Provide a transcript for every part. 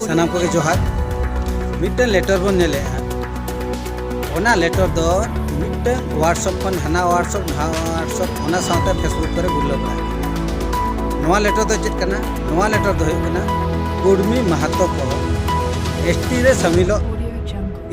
ᱥᱟᱱᱟᱢ ᱠᱚᱜᱮ ᱡᱚᱦᱟᱨ ᱢᱤᱫᱴᱟᱝ ᱞᱮᱴᱚᱨ ᱵᱚᱱ ᱧᱮᱞᱮᱜᱼᱟ ᱚᱱᱟ ᱞᱮᱴᱚᱨ ᱫᱚ ᱢᱤᱫᱴᱟᱝ ᱣᱟᱴᱥᱚᱯ ᱠᱷᱚᱱ ᱦᱟᱱᱟ ᱣᱟᱴᱥᱚᱯ ᱱᱟᱣᱟ ᱣᱟᱴᱥᱚᱯ ᱚᱱᱟ ᱥᱟᱶᱛᱮ ᱯᱷᱮᱥᱵᱩᱠ ᱠᱚᱨᱮ ᱜᱩᱨᱞᱟᱹᱣ ᱵᱟᱲᱟᱭ ᱱᱚᱣᱟ ᱞᱮᱴᱚᱨ ᱫᱚ ᱪᱮᱫ ᱠᱟᱱᱟ ᱱᱚᱣᱟ ᱞᱮᱴᱚᱨ ᱫᱚ ᱦᱩᱭᱩᱜ ᱠᱟᱱᱟ ᱠᱩᱲᱢᱤ ᱢᱟᱦᱟᱛᱚ ᱠᱚ ᱮᱥ ᱴᱤ ᱨᱮ ᱥᱟᱹᱢᱤᱞᱚᱜ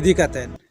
ᱤᱫᱤ ᱠᱟᱛᱮᱫ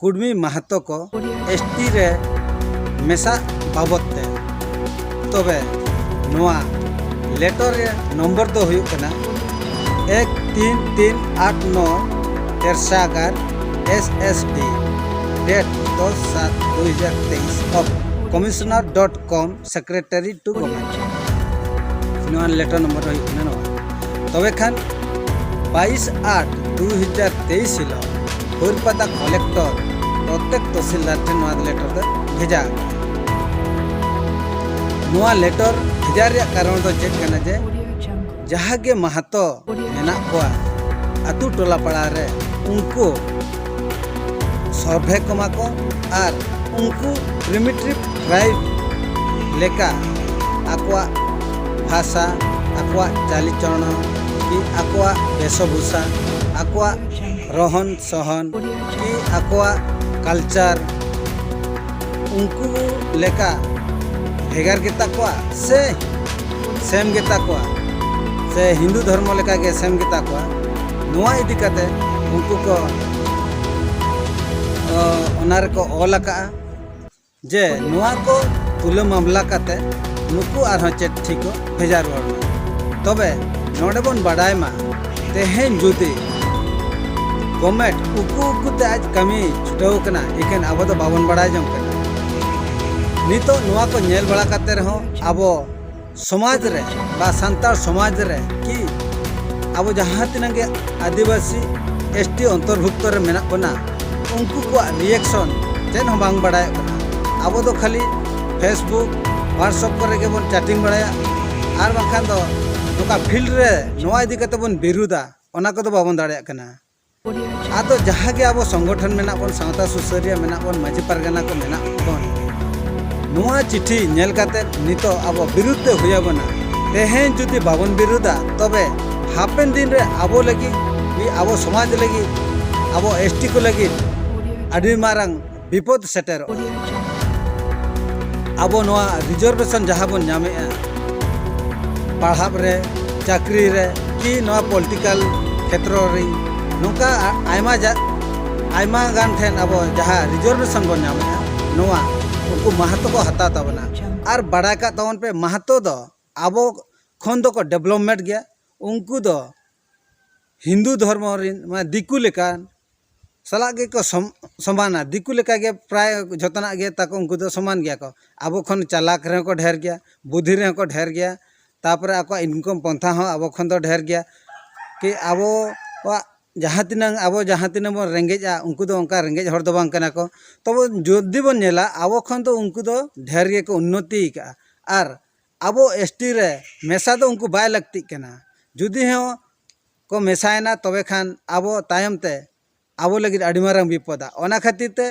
ᱠᱩᱰᱢᱤ ᱢᱟᱦᱟᱛᱚ ᱠᱚ ᱮᱥ ᱴᱤ ᱨᱮ ᱢᱮᱥᱟᱜ ᱵᱟᱵᱚᱛ ᱛᱮ ᱛᱚᱵᱮ ᱱᱚᱣᱟ ᱞᱮᱴᱚ ᱨᱮ ᱱᱚᱢᱵᱚᱨ ᱫᱚ ᱦᱩᱭᱩᱜ ᱠᱟᱱᱟ ᱮᱠ ᱛᱤᱱ ᱛᱤᱱ ᱟᱴ ᱱᱚ ᱛᱮᱨᱥᱟᱜᱟᱨ ᱮᱥ ᱮᱥ ᱰᱤ ᱰᱮᱴ ᱫᱚᱥ ᱥᱟᱛ ᱫᱩ ᱦᱟᱡᱟᱨ ᱛᱮᱭᱤᱥ of commissioner dot cum secretary to government ᱱᱚᱣᱟ ᱞᱮᱴᱟᱨ ᱱᱚᱢᱵᱚᱨ ᱦᱩᱭᱩᱜ ᱠᱟᱱᱟ ᱱᱚᱣᱟ ᱛᱚᱵᱮ ᱠᱷᱟᱱ ᱵᱟᱭᱤᱥ ᱟᱴ ᱫᱩ ᱦᱟᱡᱟᱨ ᱛᱮᱭᱤᱥ ᱦᱤᱞᱳᱜ ᱦᱩᱨᱯᱟᱫᱟ ᱠᱚᱞᱮᱠᱴᱚᱨ ᱯᱨᱚᱛᱮᱠ ᱛᱚᱦᱥᱤᱞᱫᱟᱨ ᱴᱷᱮᱱ ᱱᱚᱣᱟ ᱞᱮᱴᱚᱨ ᱫᱚ ᱵᱷᱮᱡᱟ ᱟᱠᱟᱱᱟ ᱱᱚᱣᱟ ᱞᱮᱴᱚᱨ ᱵᱷᱮᱡᱟ ᱨᱮᱭᱟᱜ ᱠᱟᱨᱚᱱ ᱫᱚ ᱪᱮᱫ ᱠᱟᱱᱟ ᱡᱮ ᱡᱟᱦᱟᱸ ᱜᱮ ᱢᱟᱦᱟᱛᱚ ᱢᱮᱱᱟᱜ ᱠᱚᱣᱟ ᱟᱛᱳ ᱴᱚᱞᱟ ᱯᱟᱲᱟ ᱨᱮ ᱩᱱᱠᱩ ᱥᱚᱨᱵᱷᱮ ᱠᱚᱢᱟ ᱠᱚ ᱟᱨ ᱩᱱᱠᱩ ᱯᱨᱤᱢᱤᱴᱤᱵᱽ ᱴᱨᱟᱭᱤᱵᱽ ᱞᱮᱠᱟ ᱟᱠᱚᱣᱟᱜ ᱵᱷᱟᱥᱟ ᱟᱠᱚᱣᱟᱜ ᱪᱟᱞᱤᱪᱚᱞᱚᱱ ᱠᱤ ᱟᱠᱚᱣᱟᱜ ᱵᱮᱥᱚᱵᱷᱩᱥᱟ ᱟᱠᱚᱣᱟᱜ ᱨᱚᱦᱚᱱ ᱥᱚᱦᱚᱱ ᱠᱤ ᱟᱠᱚᱣᱟᱜ ᱠᱟᱞᱪᱟᱨ ᱩᱱᱠᱩ ᱞᱮᱠᱟ ᱵᱷᱮᱜᱟᱨ ᱜᱮᱛᱟ ᱠᱚᱣᱟ ᱥᱮ ᱥᱮᱢ ᱜᱮᱛᱟ ᱠᱚᱣᱟ ᱥᱮ ᱦᱤᱱᱫᱩ ᱫᱷᱚᱨᱢᱚ ᱞᱮᱠᱟ ᱜᱮ ᱥᱮᱢ ᱜᱮᱛᱟ ᱠᱚᱣᱟ ᱱᱚᱣᱟ ᱤᱫᱤ ᱠᱟᱛᱮ ᱩᱱᱠᱩ ᱠᱚ ᱚᱱᱟ ᱨᱮᱠᱚ ᱚᱞ ᱟᱠᱟᱜᱼᱟ ᱡᱮ ᱱᱚᱣᱟ ᱠᱚ ᱛᱩᱞᱟᱹ ᱢᱟᱢᱞᱟ ᱠᱟᱛᱮ ᱱᱩᱠᱩ ᱟᱨᱦᱚᱸ ᱪᱮᱫ ᱴᱷᱤᱠᱚᱜ ᱵᱷᱮᱡᱟ ᱨᱩᱣᱟᱹᱲ ᱢᱮ ᱛᱚᱵᱮ ᱱᱚᱰᱮ ᱵᱚᱱ ᱵᱟᱰᱟᱭ ᱢᱟ ᱛᱮᱦᱮᱧ ᱡᱩᱫᱤ ᱜᱚᱢᱮᱴ ᱩᱠᱩ ᱩᱠᱩ ᱛᱮ ᱟᱡ ᱠᱟᱹᱢᱤ ᱪᱷᱩᱴᱟᱹᱣ ᱠᱟᱱᱟ ᱮᱠᱮᱱ ᱟᱵᱚ ᱫᱚ ᱵᱟᱵᱚᱱ ᱵᱟᱰᱟᱭ ᱡᱚᱝ ᱠᱟᱱᱟ ᱱᱤᱛᱚᱜ ᱱᱚᱣᱟ ᱠᱚ ᱧᱮᱞ ᱵᱟᱲᱟ ᱠᱟᱛᱮ ᱨᱮᱦᱚᱸ ᱟᱵᱚ ᱥᱚᱢᱟᱡᱽ ᱨᱮ ᱵᱟ ᱥᱟᱱᱛᱟᱲ ᱥᱚᱢᱟᱡᱽ ᱨᱮ ᱠᱤ ᱟᱵᱚ ᱡᱟᱦᱟᱸ ᱛᱤᱱᱟᱹᱜ ᱜᱮ ᱟᱹᱫᱤᱵᱟᱹᱥᱤ ᱮᱥ ᱴᱤ ᱚᱱᱛᱚᱨᱵᱷᱩᱠᱛᱚ ᱨᱮ ᱢᱮᱱᱟᱜ ᱵᱚᱱᱟ ᱩᱱᱠᱩ ᱠᱚᱣᱟᱜ ᱨᱤᱭᱮᱠᱥᱚᱱ ᱪᱮᱫ ᱦᱚᱸ ᱵᱟᱝ ᱵᱟᱰᱟᱭᱚᱜ ᱠᱟᱱᱟ ᱟᱵᱚ ᱫᱚ ᱠᱷᱟᱹᱞᱤ ᱯᱷᱮᱥᱵᱩᱠ ᱦᱳᱣᱟᱴᱥᱚᱯ ᱠᱚᱨᱮ ᱜᱮᱵᱚᱱ ᱪᱟᱴᱤᱝ ᱵᱟᱲᱟᱭᱟ ᱟᱨ ᱵᱟᱝᱠᱷᱟᱱ ᱫᱚ ᱱᱚᱝᱠᱟ ᱯᱷᱤᱞᱰ ᱨᱮ ᱱᱚᱣᱟ ᱤᱫᱤ ᱠᱟᱛᱮ ᱵᱚᱱ ᱵᱤᱨᱩᱫᱟ ᱚᱱᱟ ᱠᱚᱫᱚ ᱵᱟᱵᱚᱱ ᱫᱟᱲᱮᱭᱟᱜ ᱠᱟᱱᱟ ᱟᱫᱚ ᱡᱟᱦᱟᱸ ᱜᱮ ᱟᱵᱚ ᱥᱚᱝᱜᱚᱴᱷᱚᱱ ᱢᱮᱱᱟᱜ ᱵᱚᱱ ᱥᱟᱶᱛᱟ ᱥᱩᱥᱟᱹᱨᱤᱭᱟᱹ ᱢᱮᱱᱟᱜ ᱵᱚᱱ ᱢᱟᱹᱡᱷᱤ ᱯᱟᱨᱜᱟᱱᱟ ᱠᱚ ᱢᱮᱱᱟᱜ ᱵᱚᱱ ᱱᱚᱣᱟ ᱪᱤᱴᱷᱤ ᱧᱮᱞ ᱠᱟᱛᱮ ᱱᱤᱛᱚᱜ ᱟᱵᱚ ᱵᱤᱨᱩᱫ ᱛᱮ ᱦᱩᱭ ᱟᱵᱚᱱᱟ ᱛᱮᱦᱮᱧ ᱡᱩᱫᱤ ᱵᱟᱵᱚᱱ ᱵᱤᱨᱩᱫᱟ ᱛᱚᱵᱮ ᱦᱟᱯᱮᱱ ᱫᱤᱱ ᱨᱮ ᱟᱵᱚ ᱞᱟᱹᱜᱤᱫ ᱟᱵᱚ ᱥᱚᱢᱟᱡᱽ ᱞᱟᱹᱜᱤᱫ ᱟᱵᱚ ᱮᱥᱴᱤ ᱠᱚ ᱞᱟᱹᱜᱤᱫ ᱟᱹᱰᱤ ᱢᱟᱨᱟᱝ ᱵᱤᱯᱚᱫ ᱥᱮᱴᱮᱨᱚᱜᱼᱟ ᱟᱵᱚ ᱱᱚᱣᱟ ᱨᱤᱡᱟᱨᱵᱷᱮᱥᱚᱱ ᱡᱟᱦᱟᱸ ᱵᱚᱱ ᱧᱟᱢᱮᱜᱼᱟ ᱯᱟᱲᱦᱟᱜ ᱨᱮ ᱪᱟᱹᱠᱨᱤ ᱨᱮ ᱠᱤ ᱱᱚᱣᱟ ᱯᱚᱞᱤᱴᱤᱠᱟᱞ ᱠᱷᱮᱛᱨᱚ ᱨᱮ ᱱᱚᱝᱠᱟ ᱟᱭᱢᱟ ᱟᱭᱢᱟ ᱜᱟᱱ ᱴᱷᱮᱱ ᱟᱵᱚ ᱡᱟᱦᱟᱸ ᱨᱤᱡᱟᱨᱵᱷᱮᱥᱚᱱ ᱵᱚᱱ ᱧᱟᱢᱮᱜᱼᱟ ᱱᱚᱣᱟ ᱩᱱᱠᱩ ᱢᱟᱦᱟᱛᱚ ᱠᱚ ᱦᱟᱛᱟᱣ ᱛᱟᱵᱚᱱᱟ ᱟᱨ ᱵᱟᱲᱟᱭ ᱠᱟᱜ ᱛᱟᱵᱚᱱ ᱯᱮ ᱢᱟᱦᱟᱛᱚ ᱫᱚ ᱟᱵᱚ ᱠᱷᱚᱱ ᱫᱚᱠᱚ ᱰᱮᱵᱷᱞᱚᱯᱢᱮᱱᱴ ᱜᱮᱭᱟ ᱩᱱᱠᱩ ᱫᱚ ᱦᱤᱱᱫᱩ ᱫᱷᱚᱨᱢᱚ ᱨᱮᱱ ᱢᱟᱱᱮ ᱫᱤᱠᱩ ᱞᱮᱠᱟ ᱥᱟᱞᱟᱜ ᱜᱮᱠᱚ ᱥᱚᱢᱟᱱᱟ ᱫᱤᱠᱩ ᱞᱮᱠᱟ ᱜᱮ ᱯᱨᱟᱭ ᱡᱚᱛᱚᱱᱟᱜ ᱜᱮ ᱛᱟᱠᱚ ᱩᱱᱠᱩ ᱫᱚ ᱥᱚᱢᱟᱱ ᱜᱮᱭᱟ ᱠᱚ ᱟᱵᱚ ᱠᱷᱚᱱ ᱪᱟᱞᱟᱠ ᱨᱮᱦᱚᱸ ᱠᱚ ᱰᱷᱮᱨ ᱜᱮᱭᱟ ᱵᱩᱫᱷᱤ ᱨᱮᱦᱚᱸ ᱠᱚ ᱰᱷᱮᱨ ᱜᱮᱭᱟ ᱛᱟᱨᱯᱚᱨᱮ ᱟᱠᱚᱣᱟᱜ ᱤᱱᱠᱚᱢ ᱯᱚᱱᱛᱷᱟ ᱦᱚᱸ ᱟᱵᱚ ᱠᱷᱚᱱ ᱫᱚ ᱰᱷᱮᱨ ᱜᱮᱭᱟ ᱠᱤ ᱟᱵᱚᱣᱟᱜ ᱡᱟᱦᱟᱸ ᱛᱤᱱᱟᱹᱝ ᱟᱵᱚ ᱡᱟᱦᱟᱸ ᱛᱤᱱᱟᱹᱝ ᱵᱚᱱ ᱨᱮᱸᱜᱮᱡᱼᱟ ᱩᱱᱠᱩ ᱫᱚ ᱚᱱᱠᱟ ᱨᱮᱸᱜᱮᱡ ᱦᱚᱲ ᱫᱚ ᱵᱟᱝ ᱠᱟᱱᱟ ᱠᱚ ᱛᱚᱵᱮ ᱡᱩᱫᱤ ᱵᱚᱱ ᱧᱮᱞᱟ ᱟᱵᱚ ᱠᱷᱚᱱ ᱫᱚ ᱩᱱᱠᱩ ᱫᱚ ᱰᱷᱮᱨ ᱜᱮᱠᱚ ᱩᱱᱱᱚᱛᱤ ᱟᱠᱟᱫᱼᱟ ᱟᱨ ᱟᱵᱚ ᱮᱥ ᱴᱤ ᱨᱮ ᱢᱮᱥᱟ ᱫᱚ ᱩᱱᱠᱩ ᱵᱟᱭ ᱞᱟᱹᱠᱛᱤᱜ ᱠᱟᱱᱟ ᱡᱩᱫᱤ ᱦᱚᱸ ᱠᱚ ᱢᱮᱥᱟᱭᱮᱱᱟ ᱛᱚᱵᱮ ᱠᱷᱟᱱ ᱟᱵᱚ ᱛᱟᱭᱚᱢ ᱛᱮ ᱟᱵᱚ ᱞᱟᱹᱜᱤᱫ ᱟᱹᱰᱤ ᱢᱟᱨᱟᱝ ᱵᱤᱯᱚᱫᱟ ᱚᱱᱟ ᱠᱷᱟᱹᱛᱤᱨ ᱛᱮ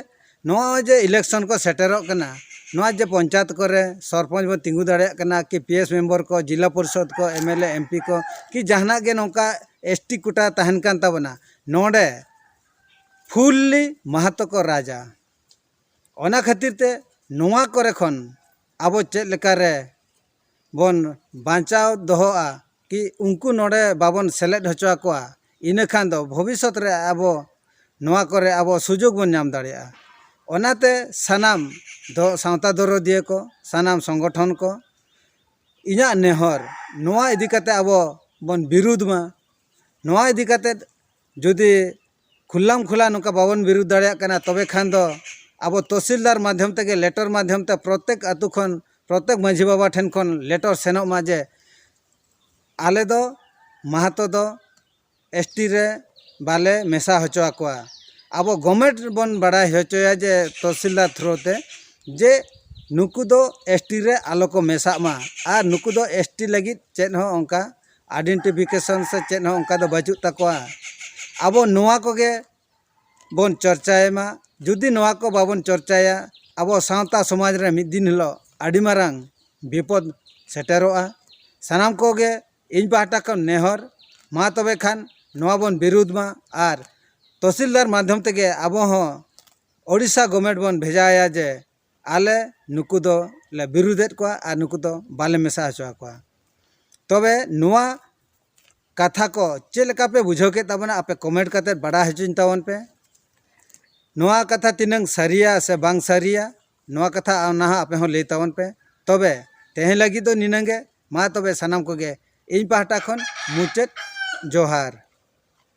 ᱱᱚᱜᱼᱚᱭ ᱡᱮ ᱤᱞᱮᱠᱥᱚᱱ ᱠᱚ ᱥᱮᱴᱮᱨᱚᱜ ᱠᱟᱱᱟ ᱱᱚᱣᱟ ᱡᱮ ᱯᱚᱧᱪᱟᱭᱮᱛ ᱠᱚᱨᱮ ᱥᱚᱨᱯᱚᱧᱪ ᱵᱚᱱ ᱛᱤᱸᱜᱩ ᱫᱟᱲᱮᱭᱟᱜ ᱠᱟᱱᱟ ᱠᱤ ᱯᱤ ᱮᱥ ᱢᱮᱢᱵᱚᱨ ᱠᱚ ᱡᱤᱞᱟ ᱯᱚᱨᱤᱥᱚᱫᱽ ᱠᱚ M L A M P ᱠᱚ ᱠᱤ ᱡᱟᱦᱟᱱᱟᱜ ᱜᱮ ᱱᱚᱝᱠᱟ ᱮᱥ ᱴᱤ ᱠᱳᱴᱟ ᱛᱟᱦᱮᱱ ᱠᱟᱱ ᱛᱟᱵᱚᱱᱟ ᱱᱚᱰᱮ ᱯᱷᱩᱞᱞᱤ ᱢᱟᱦᱟᱛᱚ ᱠᱚ ᱨᱟᱡᱟ ᱚᱱᱟ ᱠᱷᱟᱹᱛᱤᱨ ᱛᱮ ᱱᱚᱣᱟ ᱠᱚᱨᱮ ᱠᱷᱚᱱ ᱟᱵᱚ ᱪᱮᱫ ᱞᱮᱠᱟ ᱨᱮ ᱵᱚᱱ ᱵᱟᱧᱪᱟᱣ ᱫᱚᱦᱚᱜᱼᱟ ᱠᱤ ᱩᱱᱠᱩ ᱱᱚᱰᱮ ᱵᱟᱵᱚᱱ ᱥᱮᱞᱮᱫ ᱦᱚᱪᱚ ᱟᱠᱚᱣᱟ ᱤᱱᱟᱹ ᱠᱷᱟᱱ ᱫᱚ ᱵᱷᱚᱵᱤᱥᱥᱚᱛ ᱨᱮ ᱟᱵᱚ ᱱᱚᱣᱟ ᱠᱚᱨᱮ ᱟᱵᱚ ᱥᱩᱡᱳᱜᱽ ᱵᱚᱱ ᱧᱟᱢ ᱫᱟᱲᱮᱭᱟᱜᱼᱟ ᱚᱱᱟᱛᱮ ᱥᱟᱱᱟᱢ ᱫᱚ ᱥᱟᱶᱛᱟ ᱫᱚᱨᱚᱫᱤᱭᱟᱹ ᱠᱚ ᱥᱟᱱᱟᱢ ᱥᱚᱝᱜᱚᱴᱷᱚᱱ ᱠᱚ ᱤᱧᱟᱹᱜ ᱱᱮᱦᱚᱨ ᱱᱚᱣᱟ ᱤᱫᱤ ᱠᱟᱛᱮᱫ ᱟᱵᱚ ᱵᱚᱱ ᱵᱤᱨᱩᱫᱷ ᱢᱟ ᱱᱚᱣᱟ ᱤᱫᱤ ᱠᱟᱛᱮᱫ ᱡᱩᱫᱤ ᱠᱷᱩᱞᱟᱢ ᱠᱷᱩᱞᱟ ᱱᱚᱝᱠᱟ ᱵᱟᱵᱚᱱ ᱵᱤᱨᱩᱫᱷ ᱫᱟᱲᱮᱭᱟᱜ ᱠᱟᱱᱟ ᱛᱚᱵᱮ ᱠᱷᱟᱱ ᱫᱚ ᱟᱵᱚ ᱛᱚᱥᱤᱞᱫᱟᱨ ᱢᱟᱫᱽᱫᱷᱚᱢ ᱛᱮᱜᱮ ᱞᱮᱴᱚᱨ ᱢᱟᱫᱽᱫᱷᱚᱢ ᱛᱮ ᱯᱨᱚᱛᱮᱠ ᱟᱹᱛᱩ ᱠᱷᱚᱱ ᱯᱨᱚᱛᱮᱠ ᱢᱟᱺᱡᱷᱤ ᱵᱟᱵᱟ ᱴᱷᱮᱱ ᱠᱷᱚᱱ ᱞᱮᱴᱚᱨ ᱥᱮᱱᱚᱜ ᱢᱟ ᱡᱮ ᱟᱞᱮ ᱫᱚ ᱢᱟᱦᱟᱛᱚ ᱫᱚ ᱮᱥ ᱴᱤ ᱨᱮ ᱵᱟᱞᱮ ᱢᱮᱥᱟ ᱦᱚᱪᱚ ᱟᱠᱚᱣᱟ ᱟᱵᱚ ᱜᱚᱵᱷᱢᱮᱱᱴ ᱵᱚᱱ ᱵᱟᱲᱟᱭ ᱦᱚᱪᱚᱭᱟ ᱡᱮ ᱛᱚᱥᱤᱞᱫᱟᱨ ᱛᱷᱨᱩ ᱛᱮ ᱡᱮ ᱱᱩᱠᱩ ᱫᱚ ᱮᱥ ᱴᱤ ᱨᱮ ᱟᱞᱚ ᱠᱚ ᱢᱮᱥᱟᱜ ᱢᱟ ᱟᱨ ᱱᱩᱠᱩ ᱫᱚ ᱮᱥ ᱴᱤ ᱞᱟᱹᱜᱤᱫ ᱪᱮᱫ ᱦᱚᱸ ᱚᱱᱠᱟ ᱟᱭᱰᱮᱱᱴᱤᱯᱷᱤᱠᱮᱥᱚᱱ ᱥᱮ ᱪᱮᱫ ᱦᱚᱸ ᱚᱱᱠᱟ ᱫᱚ ᱵᱟᱹᱪᱩᱜ ᱛᱟᱠᱚᱣᱟ ᱟᱵᱚ ᱱᱚᱣᱟ ᱠᱚᱜᱮ ᱵᱚᱱ ᱪᱚᱨᱪᱟᱭ ᱢᱟ ᱡᱩᱫᱤ ᱱᱚᱣᱟ ᱠᱚ ᱵᱟᱵᱚᱱ ᱪᱚᱨᱪᱟᱭᱟ ᱟᱵᱚ ᱥᱟᱶᱛᱟ ᱥᱚᱢᱟᱡᱽ ᱨᱮ ᱢᱤᱫ ᱫᱤᱱ ᱦᱤᱞᱳᱜ ᱟᱹᱰᱤ ᱢᱟᱨᱟᱝ ᱵᱤᱯᱚᱫ ᱥᱮᱴᱮᱨᱚᱜᱼᱟ ᱥᱟᱱᱟᱢ ᱠᱚᱜᱮ ᱤᱧ ᱯᱟᱦᱴᱟ ᱠᱷᱚᱱ ᱱᱮᱦᱚᱨ ᱢᱟ ᱛᱚᱵᱮ ᱠᱷᱟᱱ ᱱᱚᱣᱟ ᱵᱚᱱ ᱵᱤᱨᱩᱫᱷ ᱢᱟ ᱟᱨ ᱛᱚᱥᱤᱞᱫᱟᱨ ᱢᱟᱫᱽᱫᱷᱚᱢ ᱛᱮᱜᱮ ᱟᱵᱚ ᱦᱚᱸ ᱳᱰᱤᱥᱟ ᱜᱚᱵᱷᱢᱮᱱᱴ ᱵᱚᱱ ᱵᱷᱮᱡᱟ ᱟᱭᱟ ᱡᱮ ᱟᱞᱮ ᱱᱩᱠᱩ ᱫᱚ ᱞᱮ ᱵᱤᱨᱩᱫᱮᱫ ᱠᱚᱣᱟ ᱟᱨ ᱱᱩᱠᱩ ᱫᱚ ᱵᱟᱞᱮ ᱢᱮᱥᱟ ᱦᱚᱪᱚ ᱟᱠᱚᱣᱟ ᱛᱚᱵᱮ ᱱᱚᱣᱟ ᱠᱟᱛᱷᱟ ᱠᱚ ᱪᱮᱫ ᱞᱮᱠᱟ ᱯᱮ ᱵᱩᱡᱷᱟᱹᱣ ᱠᱮᱫ ᱛᱟᱵᱚᱱᱟ ᱟᱯᱮ ᱠᱚᱢᱮᱱᱴ ᱠᱟᱛᱮ ᱵᱟᱰᱟᱭ ᱦᱚᱪᱚᱧ ᱛᱟᱵᱚᱱ ᱯᱮ ᱱᱚᱣᱟ ᱠᱟᱛᱷᱟ ᱛᱤᱱᱟᱹᱝ ᱥᱟᱹᱨᱤᱭᱟ ᱥᱮ ᱵᱟᱝ ᱥᱟᱹᱨᱤᱭᱟ ᱱᱚᱣᱟ ᱠᱟᱛᱷᱟ ᱚᱱᱟ ᱦᱚᱸ ᱟᱯᱮ ᱦᱚᱸ ᱞᱟᱹᱭ ᱛᱟᱵᱚᱱ ᱯᱮ ᱛᱚᱵᱮ ᱛᱮᱦᱮᱧ ᱞᱟᱹᱜᱤᱫ ᱫᱚ ᱱᱤᱱᱟᱹᱝ ᱜᱮ ᱢᱟ ᱛᱚᱵᱮ ᱥᱟᱱᱟᱢ ᱠᱚᱜᱮ ᱤᱧ ᱯᱟᱦᱴᱟ ᱠᱷᱚᱱ ᱢᱩᱪᱟᱹᱫ ᱡᱚᱦᱟᱨ